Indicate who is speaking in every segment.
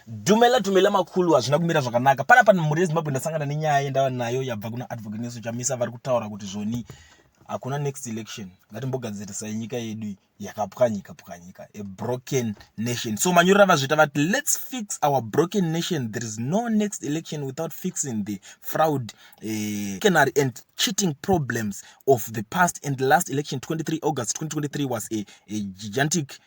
Speaker 1: Dumela dumela makulu hazvina kumira zvakanaka pana pano mhuri yezimbabwe ndasangana nenyaya yendava nayo yabva kuna advocate neso chamisa vari kutaura kuti zvoni hakuna next election ngatimbogadzirisai nyika yedu yakapwanyika pwanyika a broken nation so manyurira vazviita vati let's fix our broken nation there is no next election without fixing the fraud uh, canary and cheating problems of the past and last election 23 august 2023 was a, a gigantic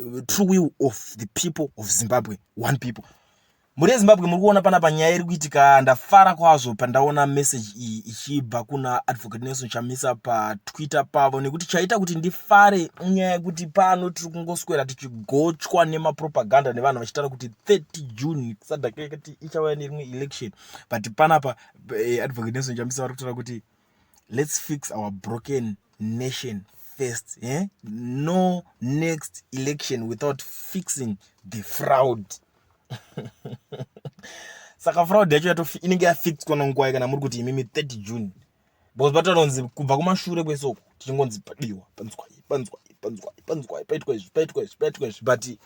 Speaker 1: uh, true will of the people of zimbabwe one people mhuri yezimbabwe muri kuona panapa nyaya iri kuitika ndafara kwazvo pandaona message iyi ichibva kuna advocate nelson chamisa patwitter pavo nekuti chaita kuti ndifare nyaya yekuti pano tiri kungoswera tichigochwa nemapropaganda nevanhu vachitaura kuti 30 june sadakekati ichauya nerimwe election but panapa eh, advocate nelson chamisa vari kutaura kuti let's fix our broken nation first eh? no next election without fixing the fraud saka fraud yacho yato inenge yafixwa nonguwai kana muri kuti imimi 30 june because patanonzi kubva kumashure kwese uku tichingonzi padiwa panzwai panzwai panzwai panzwai paitwa izvi paitwa izvi paitwa izvi but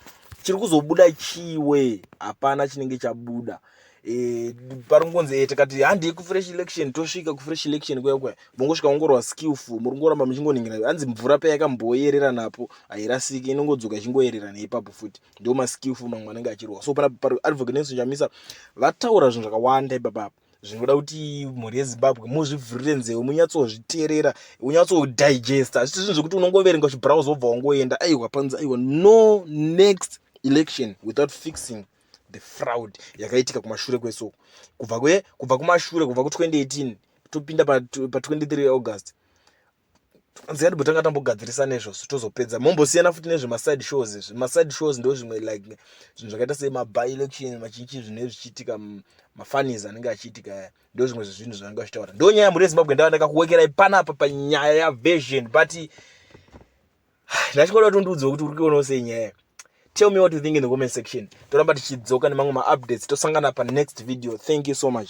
Speaker 1: chiri kuzobuda chiwe hapana chinenge chabuda e, pari kungonzi e, tikati handei kufresh election tosvika kufresh election kuya kuya mongosvika ongorwa skillful muri kungoramba muchingoningira hanzi mvura paya yakamboyerera napo hairasiki inongodzoka ichingoyerera neipapo futi ndo maskillful mamwe anenge achirwa so pana pari advocate nelson chamisa vataura zvinhu zvakawanda ipapapa zvinoda kuti mhuri yezimbabwe muzvivhurire nzeve munyatsozviterera unyatsodigesta hazvisi zvinhu zvekuti unongoverenga chibrowse wobva wangoenda aiwa panzi aiwa no next election without fixing the fraud yakaitika kumashure kwesoko kubva kwe kubva kumashure kubva ku 2018 topinda pa, pa 23 august nzikati botanga tambogadzirisa nezvozvo tozopedza mombosiyana futi nezvemaside shows izvi maside shows ndo zvimwe like zvinhu zvakaita semaby election machinchi zvinhu ezvichiitika mafanis anenge achiitika aya ndo zvimwe zvezvinhu zvanenge vachitaura ndo nyaya yamhuri yezimbabwe ndava ndakakuwekerai panapa panyaya yaversion but ndachikoda kuti undiudzewo kuti uri kuonawo sei nyaya tell me what you think in the comment section toramba tichidzoka nemamwe maupdates tosangana panext video thank you so much